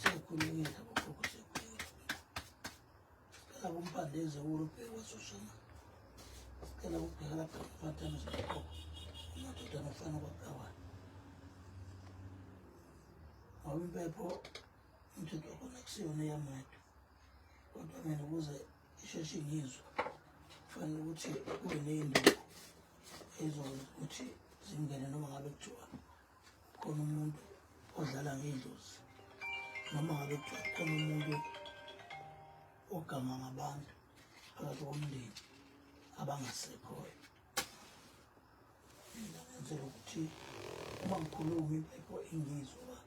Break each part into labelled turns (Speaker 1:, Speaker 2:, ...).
Speaker 1: Sekukhulekela bogogo sekukhulekela. Sicela kumpande ezewulu ubheke wasoshana. Sicela kubheka lapha kumatana zogogo. Amadoda nofana kwaqawana. Ngoba impepho umthetho wakhona kusiyona eyamadu. Kodwa mina ukuze isheshe ngizwe kufanele ukuthi kube neyindawo ezokwazi ukuthi zingene noma ngabe kuthiwa khona umuntu odlala ngedlozi noma ngabe khona umuntu ogama ngabantu phakathi komndeni abangasekhoyo mina ngenzela ukuthi uma ngikhuluma impepho ingizwa uba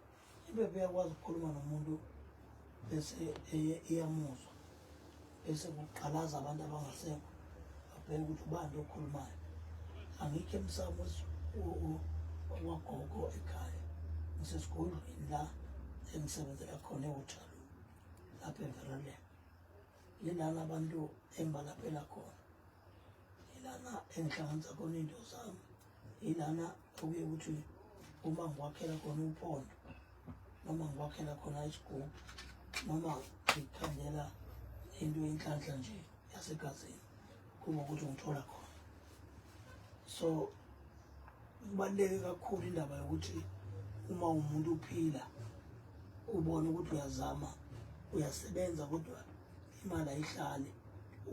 Speaker 1: impepho iyakwazi ukukhuluma nomuntu bese iyamuzwa bese kuqalaza abantu abangasekho abheke ukuthi ubani okhulumayo angikho emsamo wagogo ekhaya ngisesigodlweni la engisebenzela khona ewuthalo lapha everalen yilana abantu embalaphela khona yilana engihlanganisa khona into zami yilana okuye ukuthi uma ngiwakhela khona umpondo noma ngiwakhela khona isigubhu noma ngikhandela into yenhlanhla nje yasegazini kuba ukuthi ngithola khona so kubaluleke kakhulu indaba yokuthi uma umuntu uphila ubone ukuthi uyazama uyasebenza kodwa imali ayihlali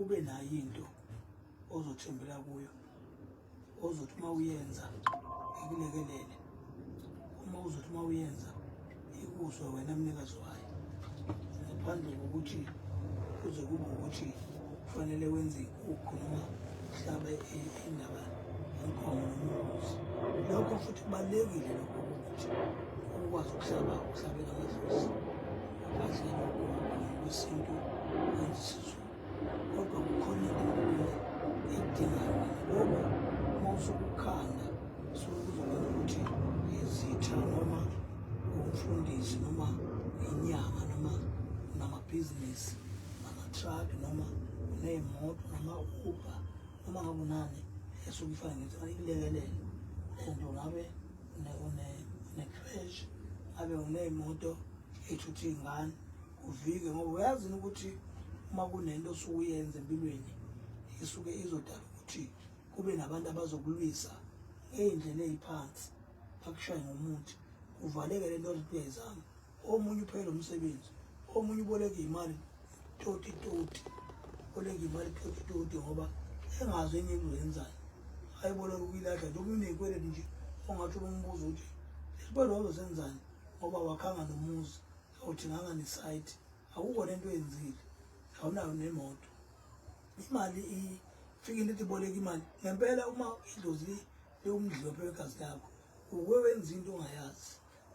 Speaker 1: ube nayo into ozothembela kuyo ozothi uma uyenza ikulekelele uma uzothi uma uyenza ikuzwe wena mnikazi wayo ngaphandle kokuthi kuze kube ukuthi kufanele wenze ikukhu noma uhlabe indaba yenkomo nombuzi lokho futhi kubalulekile lokho ukuthi ukwazi ukuhlaba uhlabela amadlozi kahle lokho kwesintu wenza isizulu kodwa kukhona into edingayo ngoba uma usukukhanda sokuzobona ukuthi izitha noma umfundisi noma inyanga noma namabhizinisi nama-truck noma uney'moto noma uba noma ngabe unani esuke ifana ngithi ikulekelele and ungabe une-crash ngabe uney'moto ey'thutha iy'ngane uvike ngoba uyazi ukuthi uma kunento osukuyenza empilweni isuke izodala ukuthi kube nabantu abazokulwisa ngey'ndlela ey'phansi bakushaye ngomuthi kuvaleke le nto othi kuyayizama omunye uphele umsebenzi omunye uboleka imali toti toti uboleka imali toti toti ngoba engazi enye into yenzayo ayiboleka ukuyilahla njengoba uneyikweleti nje ongathi ubumbuza ukuthi lesibalo wazosenzani ngoba wakhanga nomuzi awuthi nganga ne site akukho lento oyenzile awunayo nemoto imali ifikile ithi boleka imali ngempela uma idlozi liwumdlophe wegazi lakho uke wenza into ongayazi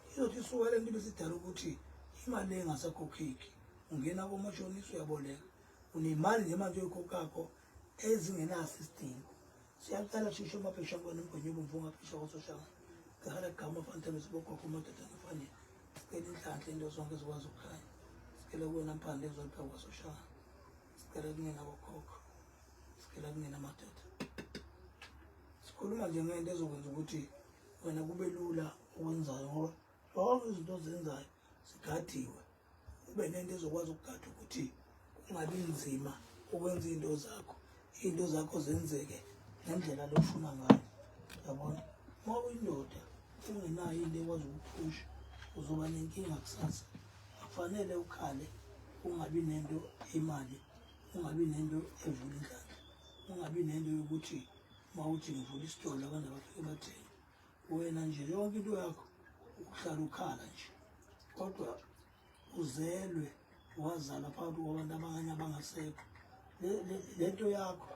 Speaker 1: izothi isuka le nto ibisidala ukuthi imali engasakhokheki ungena komashonisa uyaboleka unemali nje manje oyikhokhakho ezingenaso isidingo siyaqala shusho amabhisha kona umgwenye obomvu ongabhisha kososhanga gala gama fantana sibogogo amadoda afanele sicela inhlanhla into zonke zikwazi ukukhanya sicela kuwena mpande ezodwa kwasoshanga sicela kungena bokhokho sicela kungena amadoda sikhuluma nje ngento ezokwenza ukuthi wena kube lula okwenzayo ngoba zonke izinto ozenzayo zigadiwe ube nento ezokwazi ukugada ukuthi kungabi nzima ukwenza izinto zakho izinto zakho zenzeke ngendlela lofuna ngayo yabona uma uyindoda ungenayo into ekwazi ukuphusha uzoba nenkinga kusasa akufanele ukhale ungabi nento imali ungabi nento evula indlala ungabi nento yokuthi uma uthi ngivula isitolo abantu abafike bathenge wena nje yonke into yakho ukuhlala ukhala nje kodwa uzelwe wazalwa phakathi kwabantu abanye abangasekho le nto yakho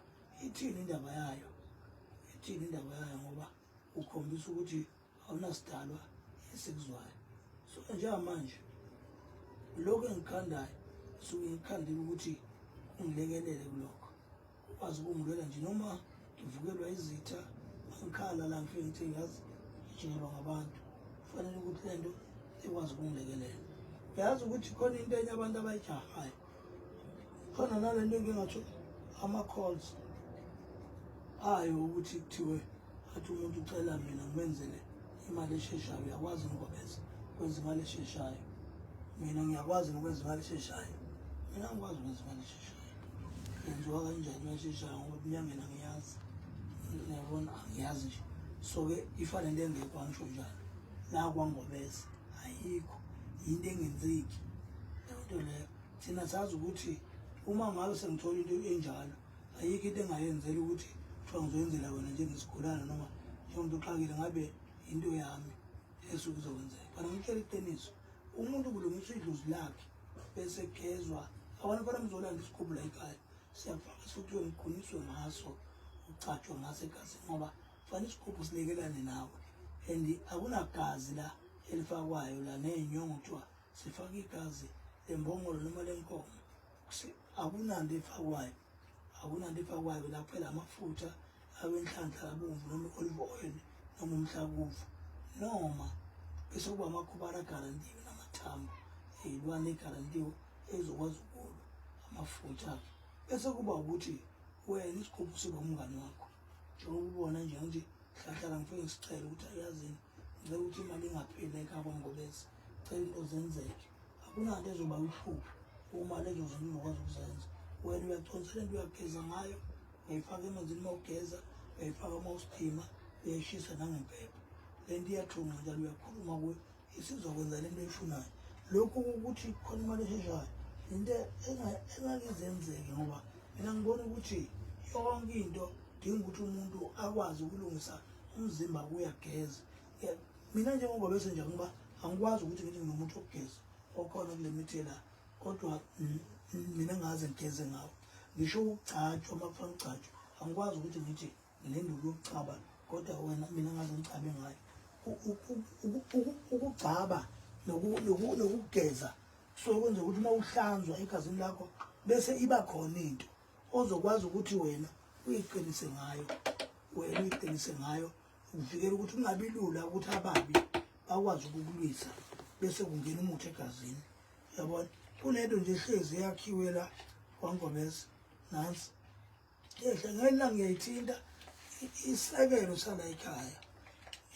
Speaker 1: ithini indaba yayo ithini indaba yayo ngoba ukhombisa ukuthi awunasidalwa esikuzwayo so njengamanje lokhu engikhandayo suke ngikhandile ukuthi ungilekelele kulokho ukwazi ukungilwela nje noma ngivukelwa izitha angikhala la ngifike ngithe ngazi ngijikelwa ngabantu kufanele ukuthi le nto ikwazi ukungilekelela uyazi ukuthi khona into enye abantu abayijahayo khona nale nto engingatho ama-calls ayo ukuthi kuthiwe athi umuntu ucela mina ngimenzele imali esheshayo uyakwazi ngokwenza kwenza imali esheshayo mina ngiyakwazi ngokwenza imali esheshayo mina ngikwazi ukwenza imali esheshayo yenziwa kanjani imali esheshayo ngoba kunyangena ngiyazi niyabona angiyazi nje so-ke ifane into engekho angisho njalo la kwangobese ayikho yinto engenzeki leyo nto leyo thina sazi ukuthi uma ngabe sengithola into enjalo ayikho into engayenzela ukuthi kuthiwa ngizoyenzela wena njengesigulana noma njengomuntu uxakile ngabe yinto yami esuke kuzokwenzeka kodwa ngitshela iqiniso umuntu kulungiswa idlozi lakhe bese kugezwa abantu fana mzolanda isikhumbula ekhaya siyafaka sokuthiwe ngiquniswe ngaso ucatshwe ngaso egazini ngoba fana isigubhu silekelane nawe and akunagazi la elifakwayo la ney'nyongo kuthiwa sifaka igazi lembongolo noma lenkomo akunanto efakwayo akunanto efakwayo la kuphela amafutha awenhlanhla abomvu noma i-olive oil noma umhlakuvu noma bese kuba amakhubana agarantiwe namathambo eyilwane egarantiwe ezokwazi ukulwa amafutha akhe bese kuba ukuthi wena isigubhu siba umngane wakho njengoba ubona nje ngithi hlahlala ngifike ngisicela ukuthi ayazini ngicela ukuthi imali ingapheli ekhaba ngobese cela into zenzeke akunanto ezoba luhlupho uma lezo zinto ungakwazi ukuzenza wena uyaconsa lento uyageza ngayo uyayifaka emanzini uma ugeza uyayifaka uma usiphima uyayishisa nangempepha le nto iyathunga njalo uyakhuluma kuyo isizokwenza le nto eyifunayo lokhu ukuthi khona imali esheshayo into engake izenzeke ngoba mina ngibona ukuthi yonke into dinga ukuthi umuntu akwazi ukulungisa umzimba kuyageza yeah. mina njengoba bese nje ngiba angikwazi ukuthi ngithi nginomuntu ogeza okhona kule mithi la kodwa mina ngaze ngigeze ngawo ngisho ukugcatshwa uma kufana ugcatshwa angikwazi ukuthi ngithi nginenduku yokucaba kodwa wena mina ngaze ngicabe ngayo ukugcaba nokugeza kusuke kwenza ukuthi uma uhlanzwa egazini lakho bese iba khona into ozokwazi ukuthi wena uyiqinise ngayo wena uyiqinise ngayo ukuvikela ukuthi kungabi lula ukuthi ababi bakwazi ukukulwisa bese kungena umuthi egazini yabona kunento nje hlezi eyakhiwe la kwangomeza nansi yehle ngelila ngiyayithinta isekelo sala ekhaya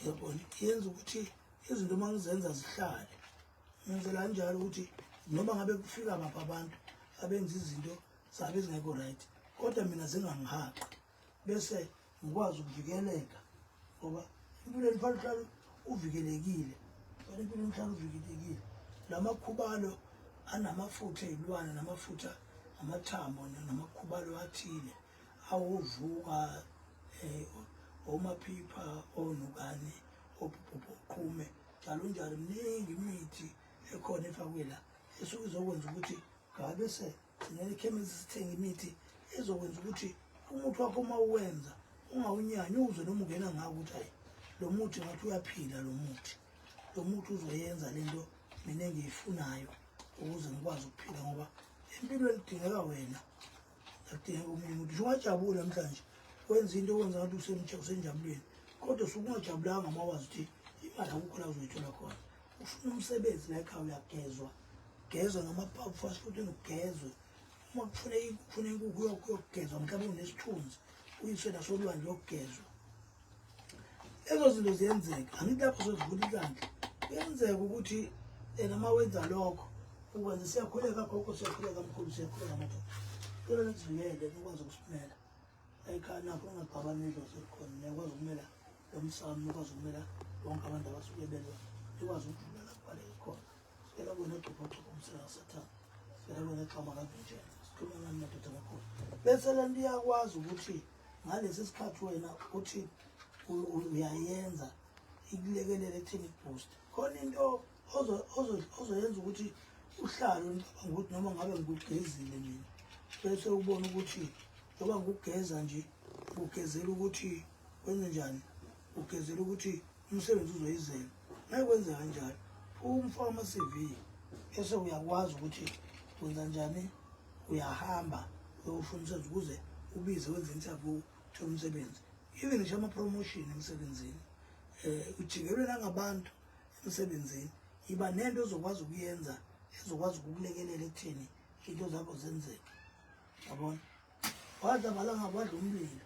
Speaker 1: yabona yenza ukuthi izinto uma ngizenza zihlale ngenzela kanjalo ukuthi noma ngabe kufika baphi abantu abenza izinto zabe zingekho right kodwa mina zingangihaqi bese ngikwazi ukuvikeleka ngoba empilweni fanele uhlale uvikelekile fanele empilweni uhlale uvikelekile lamakhubalo anamafutha ezilwane namafutha amathambo namakhubalo athile awovuka eh, omaphipha onukane oqhume njalo njalo mningi imithi ekhona efakwe la esuke izokwenza ukuthi ngabe se Ngeke ikhemisi sithenge imithi ezokwenza ukuthi umuthi wakho uma uwenza ungawunyanyi uze noma ungena ngawo ukuthi hayi lo muthi ngathi uyaphila lo muthi lo muthi uzoyenza le nto mina engiyifunayo ukuze ngikwazi ukuphila ngoba empilweni kudingeka wena akudingeka omunye umuntu nje ungajabuli namhlanje wenza into okwenza ngathi usenjabulweni kodwa sukungajabulanga uma wazi ukuthi imali akukho la uzoyithola khona ufuna umsebenzi la ekhaya uyagezwa gezwa namaphaphu fast food enokugezwe uma kufuna kufuna inkukhu yokugezwa mhlawumbe unesithunzi uyiswe nasolwandle yokugezwa ezo zinto ziyenzeka angithi lapho sozivula ikandla kuyenzeka ukuthi yena uma wenza lokho ukwenza siyakhuleka gogo siyakhuleka mkhulu siyakhuleka madoda cela nisivikele nikwazi ukusimela ayikhaya nakho ungagabani idlozi elikhona niyakwazi ukumela emsamo ukwazi ukumela bonke abantu abasuke belwa ikwazi ukudlula lapho baleke khona sicela kona egcobhogcobha umsela kasathane sicela kona exhama kavinjela sikhuluma ngani madoda kakhulu bese le nto iyakwazi ukuthi ngalesi sikhathi wena uthi uyayenza ikulekelele ekutheni iboost khona into ozoyenza ukuthi uhlale ngicabanga ukuthi noma ngabe ngikugezile mina bese ubona ukuthi njengoba ngikugeza nje ngugezela ukuthi wenze njani ugezela ukuthi umsebenzi uzoyizela naye kwenze kanjalo umfo ama-cv ese uyakwazi ukuthi wenza njani uyahamba uyosho umsebenzi ukuze ubize wenze interview uthole umsebenzi even ngisho ama-promotion emsebenzini um ujikelwe nangabantu emsebenzini yiba nento ezokwazi ukuyenza ezokwazi ukukulekelela ekutheni into zakho zenzeke yabona wadla balanga wadla umlilo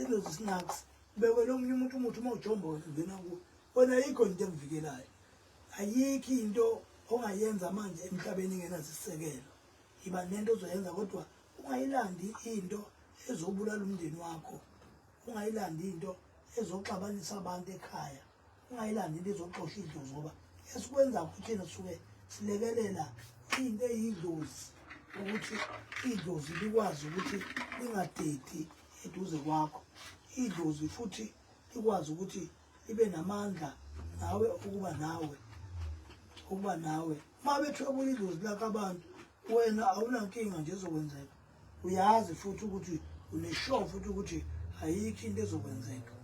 Speaker 1: Ezo snacks beke lo munye umuntu umuthi uma ujomba wena ungena kuwo. Wena ayikho into emvikelayo. Ayikho into ongayenza manje emhlabeni engenasisekelo. Yiba nento ozoyenza kodwa ungayilandi into ezobulala umndeni wakho. Ungayilandi into ezoxabanisa abantu ekhaya. ungayilandi into ezoxosha idlozi ngoba esikwenza kuthina suke silekelela into eyidlozi ukuthi idlozi likwazi ukuthi lingadedi eduze kwakho idlozi futhi likwazi ukuthi libe namandla nawe ukuba nawe ukuba nawe uma bethwebula idlozi lakho abantu wena awunankinga nje ezokwenzeka uyazi futhi ukuthi uneshow futhi ukuthi ayikho into ezokwenzeka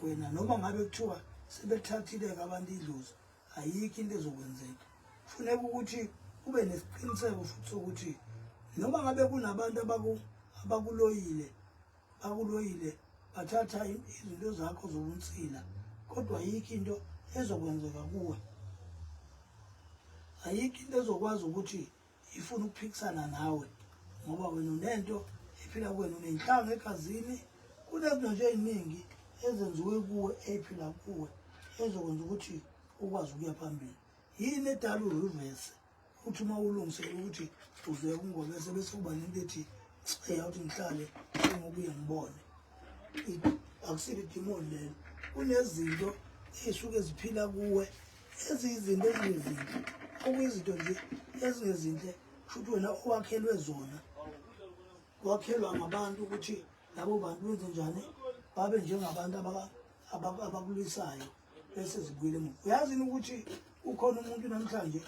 Speaker 1: wena noma ngabe kuthiwa sebethathile-ke abantu idlozi ayikho into ezokwenzeka funeka ukuthi ube nesiqiniseko futhi sokuthi noma ngabe kunabantu abakuloyile bakuloyile bathatha izinto zakho zobunsila kodwa ayikho into ezokwenzeka kuwe ayikho into ezokwazi ukuthi ifuna ukuphikisana nawe ngoba wena unento ephila kuwena unenhlanga egazini kunezinto nje eziningi ezenziwe kuwe ephila kuwe ezokwenza ukuthi ukwazi ukuya phambili yini edala urivese uthi uma ulungisele ukuthi uze kungobese bese kuba nento ethi eya ukuthi ngihlale ngokuye ngibone akusile idimoni lelo kunezinto ey'suke ziphila kuwe eziyizinto ezingezinhle okuyizinto nje ezingezinhle kushuthi wena owakhelwe zona wakhelwa ngabantu ukuthi labo bantu benze njani babe njengabantu abakulisayo bese zibuyele emuva uyazini ukuthi ukhona umuntu namhlanje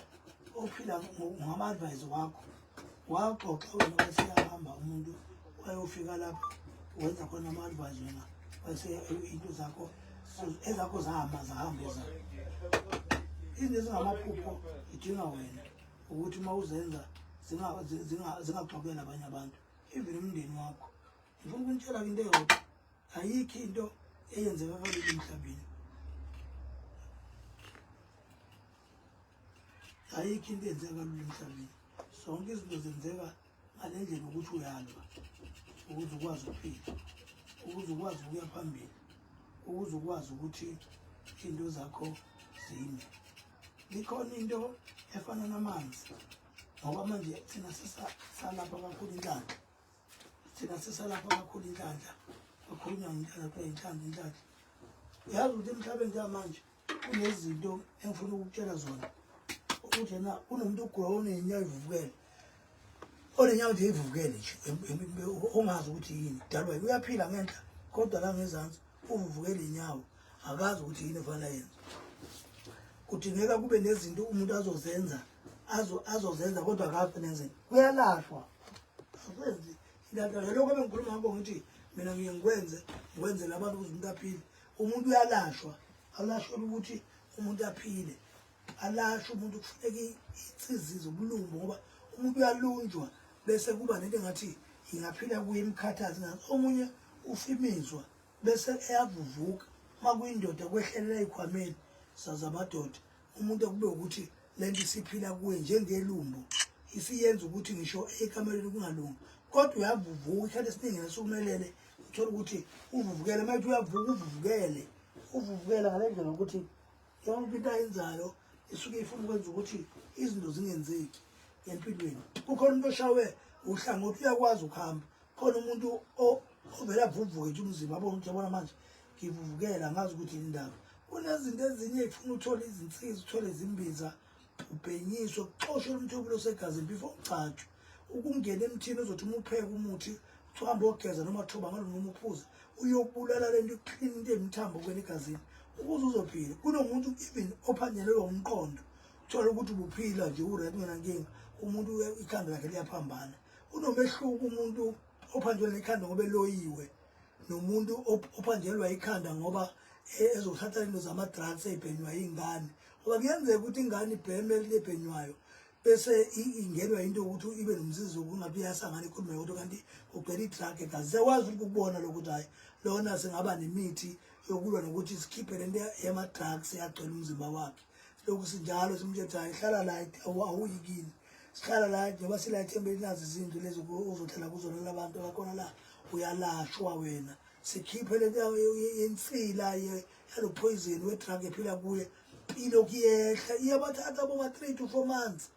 Speaker 1: ophila ngama-advise wakho Waxoxa wena waseyahamba umuntu wayofika lapho wenza khona ama-advise wena wase into zakho ezakho zahamba zahamba ezakho izinto ezingamaphupho idinga wena ukuthi uma uzenza zingaxokela abanye abantu even umndeni wakho ngifuna ukunitshela ke into eyodwa ayikho into eyenzeka kalulu emhlabeni ayikho into enzeka kalula emhlabeni zonke izinto zenzeka ngale ndlela ukuthi uyalwa ukuze ukwazi ukuphila ukuze ukwazi ukuya phambili ukuze ukwazi ukuthi into zakho zime likhona into efana namanzi ngoba manje thina sisalapha kakhulu inhlanhla thina sisalapha kakhulu inhlanhla kakhulunywa ngenhlanhla kuthiwa inhlanhla inhlanhla uyazi ukuthi emhlabeni njengamanje kunezinto engifuna ukukutshela zona ukuthi na kunomuntu ogula onenyawo ivukele onenyawo nje ivukele nje ongazi ukuthi yini dalwa uyaphila ngenhla kodwa la ngezansi uvuvukele inyawo akazi ukuthi yini efana yenza kudingeka kube nezinto umuntu azozenza azozenza kodwa akazi nenzeni kuyalashwa akwenzi ilantana lokho ebengikhuluma ngakho ngithi mina ngiye ngikwenze ngikwenzele abantu ukuze umuntu aphile umuntu uyalashwa awulashwela ukuthi umuntu aphile alashwa umuntu kufuneka insizizo ubulungu ngoba umuntu uyalunjwa bese kuba nento engathi ingaphila kuye imkhathazi ngathi omunye ufimizwa bese eyavuvuka uma kuyindoda kwehlelela ey'khwameni saze amadoda umuntu okube ukuthi lento isiphila kuwe njengelumbu isiyenza ukuthi ngisho ekameleni kungalungi kodwa uyavuvuka isikhathi esiningi nasukumelele uthole ukuthi uvuvukele manje uyavuka uvuvukele uvuvukela ngale ndlela ukuthi yonke into ayenzayo isuke ifuna ukwenza ukuthi izinto zingenzeki empilweni kukhona umuntu oshawe uhlangothi uyakwazi ukuhamba khona umuntu ovele avuvuke nje umzimba abona ukuthi yabona manje ngivuvukela ngazi ukuthi indaba kunezinto ezinye ifuna uthole izinsiza uthole izimbiza ubhenyiswe kuxoshwe umthobelo osegazini before ugcatshwe ukungena emthini uzothi uma upheka umuthi uhambe ogeza noma thoba ngalo noma uphuze uyobulala lento ikuklina into emthambo kwena egazini ukuze uzophila kunomuntu even ophanyelelwa umqondo thola ukuthi ubuphila nje uret ngenankinga umuntu ikhanda lakhe liyaphambana kunomehluko umuntu ophanjelwe ikhanda ngoba eloyiwe nomuntu ophanjelwa ikhanda ngoba e, ezothatha into zama-drugs ey'bhenywa iy'ngane ngoba kuyenzeka ukuthi ingane ibheme elibhenywayo bese ingenwa into yokuthi ibe nomsizi wokungabe iyasangana ikhulume yodwa kanti kugcwele i-drug egazi siyakwazi ukuthi ukubona lokuthi hhayi lona singaba nemithi yokulwa nokuthi sikhiphe le nto yama-drugs yagcwela umzimba wakhe lokhu sinjalo simtshethayo hlala la awuyikini sikhala la njengoba sila ethemba elinazo izindlu lezi uzothela kuzona labantu abakhona la uyalashwa wena sikhiphe le ndawo yensila yalo poison we-drug ephila kuye ilokhu yehla iyabathatha boma-three to four months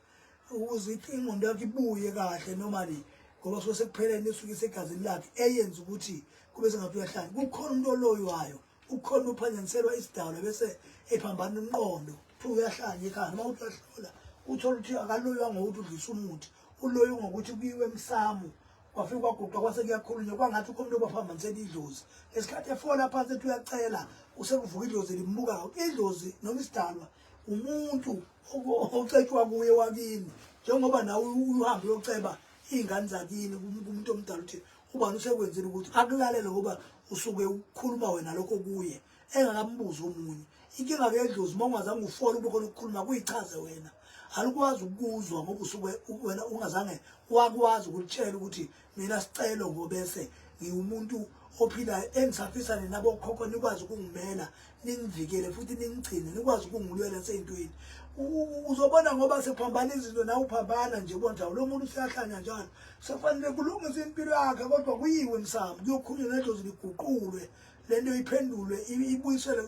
Speaker 1: ukuze ingqondo yakho ibuye kahle normally ngoba suke sekuphelele esuke isegazini lakhe eyenza ukuthi kube sengathi uyahlanya kukhona umuntu oloywayo ukhona uphazaniselwa isidalwa bese ephambana umqondo futhi uyahlanya ekhaya uma uthi uyahlola uthola ukuthi akaloywa ngokuthi udlisa umuthi uloywe ngokuthi kuyiwe emsamo kwafika kwaguqa kwase kuyakhulunywa kwangathi ukho umuntu obaphambanisela idlozi ngesikhathi efola phansi ethi uyacela usekuvuka idlozi limbukayo idlozi noma isidalwa umuntu ocetshwa kuye wakini njengoba nawe uhambe uyoceba iy'ngane zakini kumuntu omdala ukuthi ubani usekwenzile ukuthi akulalele ngoba usuke ukhuluma wena lokho kuye engakambuzi omunye inkinga ke edlozi uma ungazange ufole ube khona ukukhuluma kuyichaze wena alikwazi ukuzwa ngoba usuke wena ungazange wakwazi ukutshela ukuthi mina sicelo ngobese ngiwumuntu ophilayo engisafisa nina bokhokho nikwazi ukungimela ningivikele futhi ningigcine nikwazi ukungilwela seyintweni uzobona ngoba sephambana izinto nawe uphambana nje konjalo lo muntu useyahlanya njalo sekufanele kulungise impilo yakhe kodwa kuyiwe msamo kuyokhulunywa nento ziliguqulwe le nto iphendulwe ibuyisele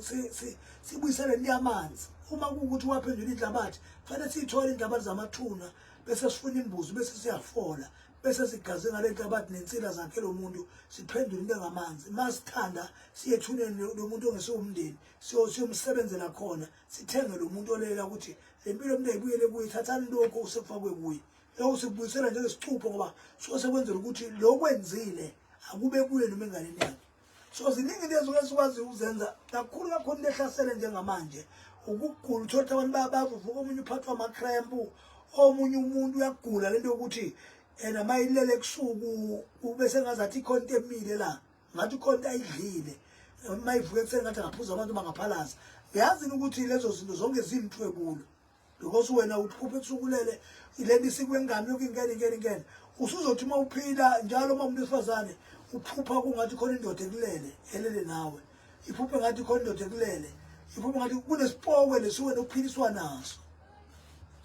Speaker 1: sibuyisele into yamanzi uma kuwukuthi waphendula inhlabathi kufanele siyithole inhlabathi zamathuna bese sifuna imbuzi bese siyafola bese sigaze ngale nhlabathi nensila zakhe lo muntu siphendule into engamanzi uma sithanda siye ethuneni lo muntu ongesiwumndeni siyomsebenzela khona sithenge lo muntu olela ukuthi le mpilo umuntu ayibuyele kuye thathani lokhu osekufakwe kuye lokhu sikubuyisela njengesicupho ngoba suke sekwenzela ukuthi lo kwenzile akube kuye noma enganeni yakhe so ziningi into esuke sikwazi ukuzenza kakhulu kakhulu into ehlasele njengamanje ukugula uthole ukuthi abantu bayabavuvuka omunye uphathwa amakrempu omunye umuntu uyagula lento yokuthi yena mayilele kusuku ube sengazi athi ikhona into emile la ngathi ikhona into ayidlile mayivuke ekuseni ngathi angaphuza abantu bangaphalaza yazini ukuthi lezo zinto zonke ziyimthwebulo because wena uphupha ethukulele le nto isikwengane yoke ingene ingene ingene usuzothi uma uphila njalo uma umuntu wesifazane uphupha kungathi khona indoda ekulele elele nawe iphuphe ngathi khona indoda ekulele iphuphe ngathi kunesipokwe lesiwena ukuphiliswa naso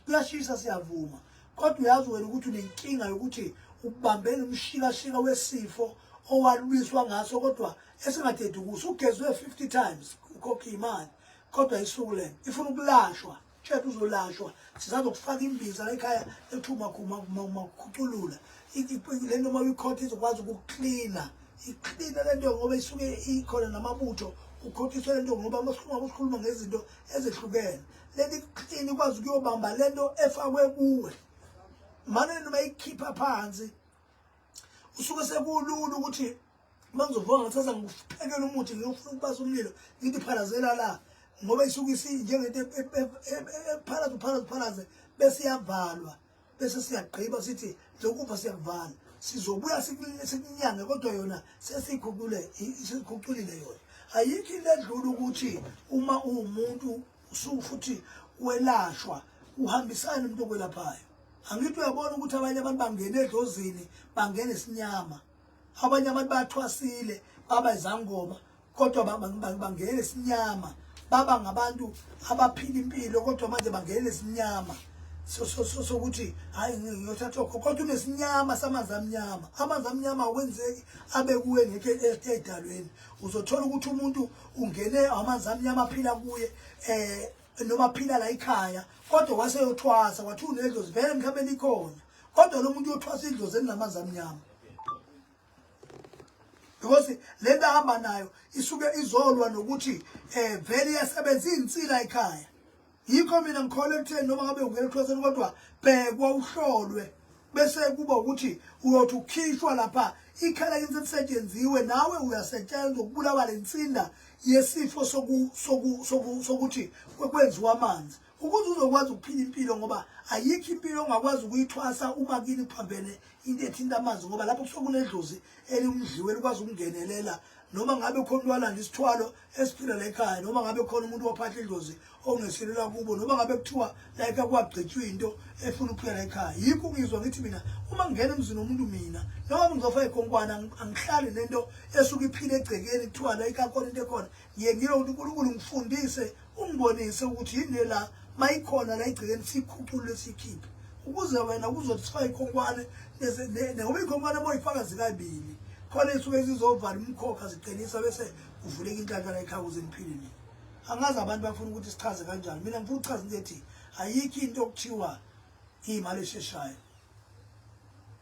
Speaker 1: kuyashisa siyavuma kodwa uyazi wena ukuthi unenkinga yokuthi ubambele umshikashika wesifo owalwiswa ngaso kodwa esingadedukusi ugezwe 50 times ukhokhe imali kodwa isuku lena ifuna ukulashwa shade uzolashwa sizazokufaka imbiza la ekhaya ethuma kumakhuculula le nto uma uyikhotha izokwazi ukuklina iklina le nto ngoba isuke ikhona namabutho ukhothiswe le nto ngoba masikhuluma kusikhuluma ngezinto ezehlukene leli klini ikwazi ukuyobamba le nto efakwe kuwe mane noma ikhipha phansi usuke sekulula ukuthi uma ngizovona ngathatha ngikuphekela umuthi ngiyofuna ukubasa umlilo ngithi phalazela la ngoba isuke isinjengento ephalaza uphalaza uphalaze bese iyavalwa bese siyagqiba sithi njengokuba siyakuvala sizobuya sikunyange kodwa yona sesikhucule sesikhuculile yona ayikho into edlula ukuthi uma uwumuntu usufuthi welashwa uhambisane umuntu okwelaphayo angithi uyabona ukuthi abanye abantu bangene edlozini bangene sinyama abanye abantu bathwasile baba izangoma kodwa bangena isinyama baba ngabantu abaphila impilo kodwa manje bangena isinyama sokuthi hayi ngiyothatha okho kodwa unesinyama samanzi amnyama amanzi amnyama awenzeki abe kuwe ngeke edalweni uzothola ukuthi umuntu ungene amanzi amnyama aphila kuye eh noma phila la ikhaya kodwa waseyothwasa wathi unedlozi vele mhlawumbe likhona kodwa lo muntu uyothwasa idlozi elinamanzi amnyama because le nto ahamba nayo isuke izolwa nokuthi um vele iyasebenza iyinsila ekhaya yikho mina ngikholwa ekutheni noma ngabe ungena ekhoseni kodwa bhekwa uhlolwe bese kuba ukuthi uyothi ukhishwa lapha ikhala into elisetshenziswe nawe uyasetshenzwa ukubulawa lensinda yesifo soku soku sokuthi kwenziwa amanzi ukuze uzokwazi ukuphila impilo ngoba ayikho impilo ongakwazi ukuyithwasa uma kini kuphambene into ethinta amanzi ngoba lapho kusuke kunedlozi elimdliwe elikwazi ukungenelela noma ngabe khona walanda isithwalo esiphila la ekhaya noma ngabe khona umuntu waphatha idlozi ongeselela kubo noma ngabe kuthiwa la ekhaya kwagqitshwa into efuna ukuphila la ekhaya yikho ngizwa ngithi mina uma ngingena emzini womuntu mina noma ngizofa ekhonkwana angihlali nento esuke iphile egcekeni kuthiwa la ekhaya khona into ekhona Ye ngiyonke uNkulunkulu ngifundise ungibonise ukuthi yini la mayikhona la igcikeni sikhuculule sikhiphe ukuze wena kuzothi sifa ikhonkwane ngoba ikhonkwane boyifaka zikabili khona isuke zizovala umkhokha ziqinisa bese kuvuleka inhlanhla la ekhaya ukuze niphile nini angazi abantu bafuna ukuthi sichaze kanjani mina ngifuna ukuchaza into ethi ayikho into okuthiwa imali esheshayo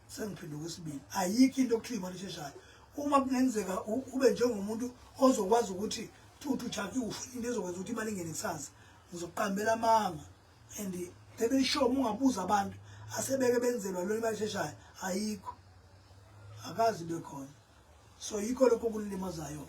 Speaker 1: sengiphinda okwesibili ayikho into okuthiwa imali esheshayo uma kungenzeka ube njengomuntu ozokwazi ukuthi thuthu jaki ufuna into ezokwenza ukuthi imali ingene kusasa ngizokuqambela amanga and bebe sure uma ungabuza abantu asebeke benzelwa lona imali esheshayo ayikho akazi bekhona so yikho lokho kulilimazayo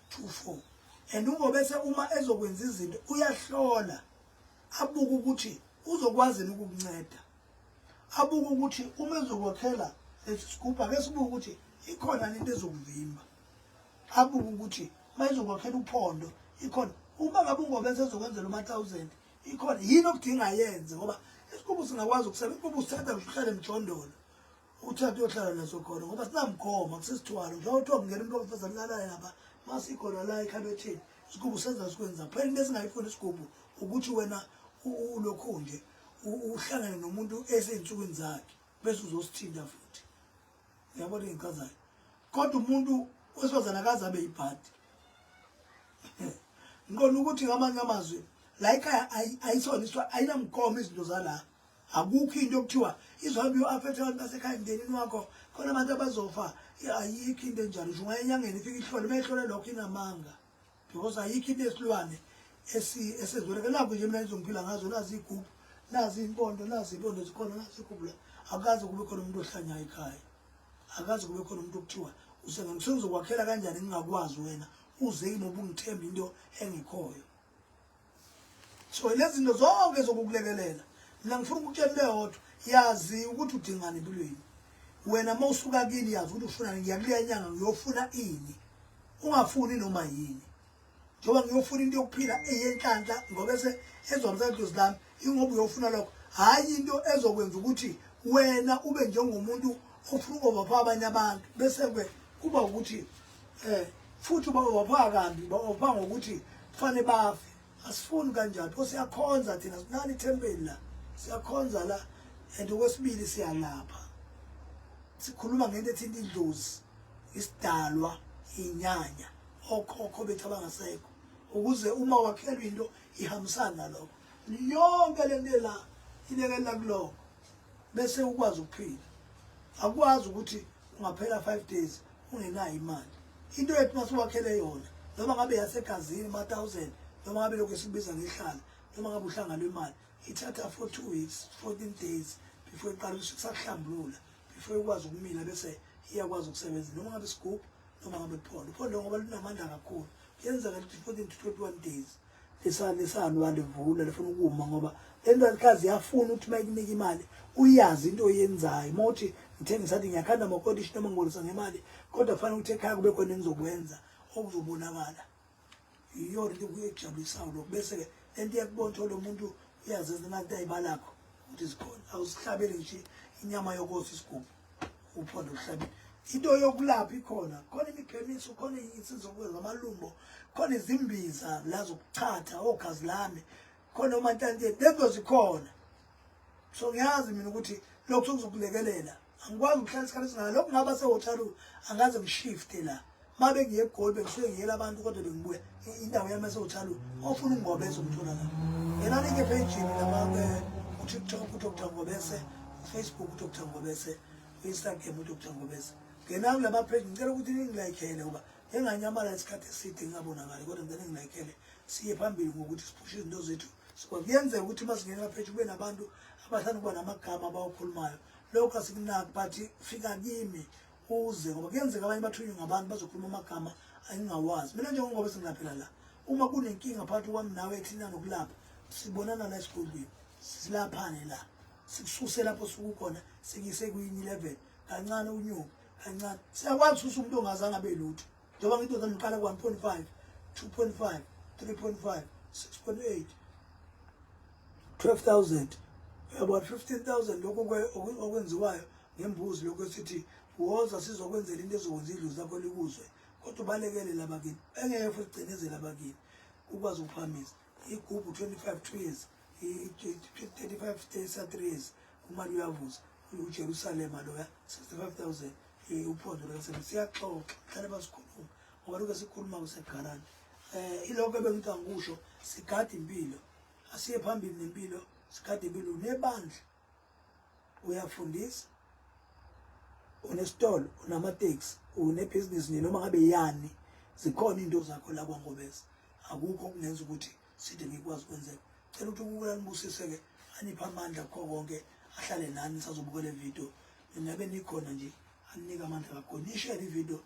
Speaker 1: to 4 and ungobese uma ezokwenza izinto uyahlola abuke ukuthi uzokwazi ukukunceda abuke ukuthi uma ezokwakhela lesigubha ke sibuke ukuthi ikhona into ezokuvimba abuke ukuthi mayizokwakhela uphondo ikhona uma ngabe ungobese ezokwenzela uma 1000 ikhona yini okudinga yenze ngoba isigubhu singakwazi ukusebenza ukuba usithatha uhlale emjondolo uthathe uyohlala naso khona ngoba sinamgomo kusesithwalo njengoba kuthiwa kungena umuntu wabafazane lalaye lapha ma sikhona la ekhabetheni isigubu senza sikwenza phela into esingayifuni isigubu ukuthi wena ulokhu nje uhlangane nomuntu esey'nsukwini zakhe bese uzosithinta futhi uyabona engichazayo kodwa umuntu wesifazane akaze abe yibhadi ngiqonda ukuthi ngamanye amazwi la ikhaya ayisona ayinamgomo izinto zala Akukho into okuthiwa izohambe uaphethe abantu basekhaya emndenini wakho khona abantu abazofa ayikho into enjalo nje ungaya enyangeni ifike ihlole uma ihlole lokho inamanga because ayikho into esilwane esezweleke nakho nje mina ngizongiphila ngazo nazi iy'gubhu nazi iy'mpondo nazi iy'mpondo zikhona nazi igubula akukaze kube khona umuntu ohlanyayo ekhaya akukaze kube khona umuntu okuthiwa usengangisuke kanjani ngingakwazi wena uze kimi ubungithemba into engekhoyo so lezi zinto zonke zokukulekelela mina ngifuna ukutshela into eyodwa yazi ukuthi udingani empilweni wena uma usuka kini yazi ukuthi ufunani ngiyakuleya nyanga ngiyofuna ini ungafuni noma yini njengoba ngiyofuna into yokuphila eyenhlanhla ngoba ese ezomsana dlozi lami ingoba uyofuna lokho hhayi into ezokwenza ukuthi wena ube njengomuntu ofuna ukova pha abanye abantu bese-ke kuba ukuthi eh futhi bawopha kambi bawopha ngokuthi kufanele bafe asifuni kanjani pho siyakhonza thina sinani ithempeli la siyakhonza la and okwesibili siyalapha sikhuluma ngento ethinta idlozi isidalwa inyanya okhokho bethu abangasekho ukuze uma wakhelwa into ihambisana nalokho yonke le nto la ilekelela kulokho bese ukwazi ukuphila akwazi ukuthi ungaphela 5 days ungenayo imali into yethu masiwakhele yona noma ngabe yasegazini ma 1000 noma ngabe lokho sibiza ngehlala noma ngabe uhlanga lwemali ithatha for 2 weeks 14 days before iqala ukusahlambulula before ikwazi ukumila bese iyakwazi ukusebenza noma ngabe sigubhu noma ngabe kuphondo uphondo ngoba lunamandla kakhulu yenzeka ukuthi 14 to 21 days lisani isani walivula lifuna ukuma ngoba lendalikazi yafuna ukuthi uma ikunika imali uyazi into oyenzayo uma uthi ngithenge sathi ngiyakhanda amakodishi noma ngibolisa ngemali kodwa kufanele ukuthi ekhaya kube khona engizokwenza okuzobonakala iyona into kuyejabulisayo lokho bese-ke le nto iyakubona ukuthi lo muntu uyazenza nanto ayibalakho ukuthi zikhona awusihlabeli nje inyama yokosa isigubhu uphondo emhlabeni into yokulapha ikhona khona imiphemiso khona isizokuwe ngamalumbo khona izimbiza la zokuchatha oghazi lami khona omantanteni lezo zikhona so ngiyazi mina ukuthi lokho sokuzokulekelela angikwazi ukuhlala isikhathi esingaka lokho ngaba sehotshalu angaze ngishifte la uma bengiye egoli bengisuke ngiyela abantu kodwa bengibuya indawo yami esewuthalu ofuna ungobese umthola la yena like phejini laba eh, utiktok udr ngobese ufacebook udr ngobese uinstagram udr ngobese ngena kulaba pheji ngicela ukuthi ningilayikhele ngoba enganyamala isikhathi eside ngingabonakali kodwa ngicela ningilayikhele siye phambili ngokuthi siphushe izinto zethu kuyenzeka ukuthi uma singena pheji kube nabantu abathanda ukuba namagama abawakhulumayo lokho asikunaki but fika kimi uze ngoba kuyenzeka abanye bathunywe ngabantu bazokhuluma amagama angingawazi mina njengoba singaphela la uma kunenkinga phakathi kwami nawe eklina nokulapha sibonana la esigodlweni silaphane la sikususe lapho sukukhona sikise kuyini 11 kancane unyuka kancane siyakwazi ukususa umuntu ongazange abe lutho njengoba ngithi ngizomqala ku-1.5 2.5 3.5 6.8 12000 uyabona 15000 lokho okwenziwayo ngembuzi lokhu esithi woza sizokwenzela into ezokwenza idlozi lakho likuzwe kodwa ubalekele labakini engeke futhi gcinezele abakini ukwazi ukuphamisa igubhu 25 two years 35 33 years umali uyavuza ujerusalema loya 65000 eh, uphondo likasebenzi siyaxoxa hlale basikhuluma ngoba luke sikhuluma kusegarani um eh, ilokho ebengithi angikusho sigade impilo asiye phambili nempilo sigade impilo nebandla uyafundisa unesitolo unamateksi unebhizinisi nje noma ngabe yani zikhona into zakho la kwangobeza akukho kungenza ukuthi side ngikwazi kwenzeka cela ukuthi ukubulala nibusise ke anipha amandla kukho konke ahlale nani sazobukela ividiyo ninabe nikhona nje aninike amandla kakho nishele ividiyo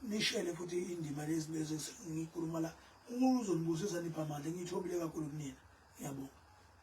Speaker 1: nishele futhi indima lezi bese ngikhuluma la umuntu uzonibusisa nipha amandla ngithobile kakhulu kunina ngiyabonga